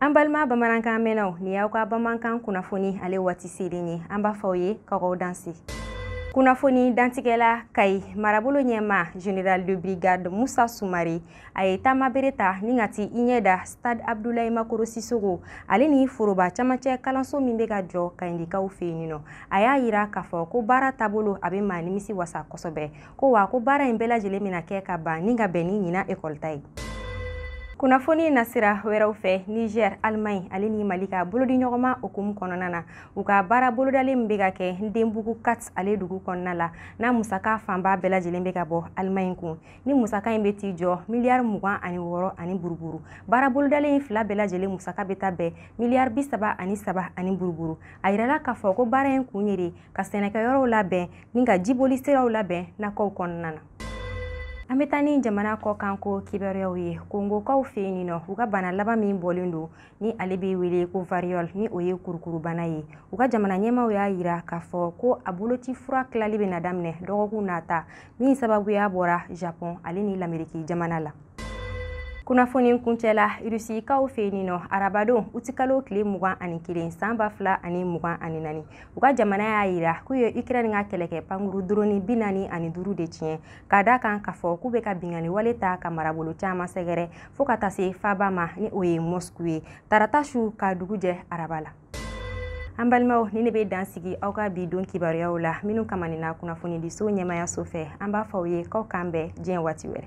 An balima bamanankan mɛnnaw ni y'aw ka bamanankan kunnafoni ale waati selen ye an b'a fɔ ye k'aw danse kunnafoni dantigɛla kayi marabolo ɲɛmaa general de brigade musa sumare a ye taamabere ta ni ka t'i ɲɛ da stade abdulayi makoro sisoko ale ni foroba camancɛ kalanso min bɛ ka jɔ kayindikaw fɛ yen ninɔ a y'a yira k'a fɔ ko baara taabolo a bɛ maa nimisi wasa kosɛbɛ ko wa ko baara in bɛɛ lajɛlen bɛna kɛ ka ban ni ka bɛn ni ɲina ekɔli ta ye kunnafoni nasira wɛrɛw fɛ niger alemaɲi ale ni mali ka bolodiɲɔgɔnma hukumu kɔnɔna na u ka baara bolodalen min bɛ ka kɛ ndebugu kat ale dugu kɔnɔna la n'a musaka fanba bɛɛ lajɛlen bɛ ka bɔ alemaɲi kun ni musaka in bɛ t'i jɔ miliyari mugan ani wɔɔrɔ ani buruburu baara bolodalen in fila bɛɛ lajɛlen musaka bɛ taa bɛn miliyari bi saba ani saba ani buruburu a yirala k'a fɔ ko baara in kun ye de ka sɛnɛkɛyɔrɔw labɛn ni ka jiboli siraw labɛn nakɔw kɔnɔna na an bɛ taa ni jamana kɔkanko kibaruyaw ye kongokaw fɛ yen nin nɔ u ka bana laban min bɔlen don ni ale bɛ wele ko variole ni o ye kurukurubana ye u ka jamana ɲɛmaaw y'a yira k'a fɔ ko a boloci fura tilali bɛna daminɛ dɔgɔkun nata min sababuya bɔra japɔn ale ni lameriki jamana la kunnafoni kuncɛla irusikaw fɛ yen nɔ arabadon utikalo tile mugan ani kelen san ba fila ani mugan ani naani u ka jamana y'a yira k'u ye ukraine ka kɛlɛkɛ pankuru doroni bi naani ani duuru de tiɲɛ k'a da kan k'a fɔ k'u bɛ ka binkanni wale ta ka marabolo caman sɛgɛrɛ fo ka taa se faaba ma ni o ye mosku ye tarata su ka dugu jɛ araba la an balimaw ni ne bɛ dan sigi aw ka bi don kibaruyaw la minnu kamanina kunnafonidiso ɲɛmaayaso fɛ an b'a fɔ aw ye k'aw k'an bɛn diɲɛ waati wɛrɛ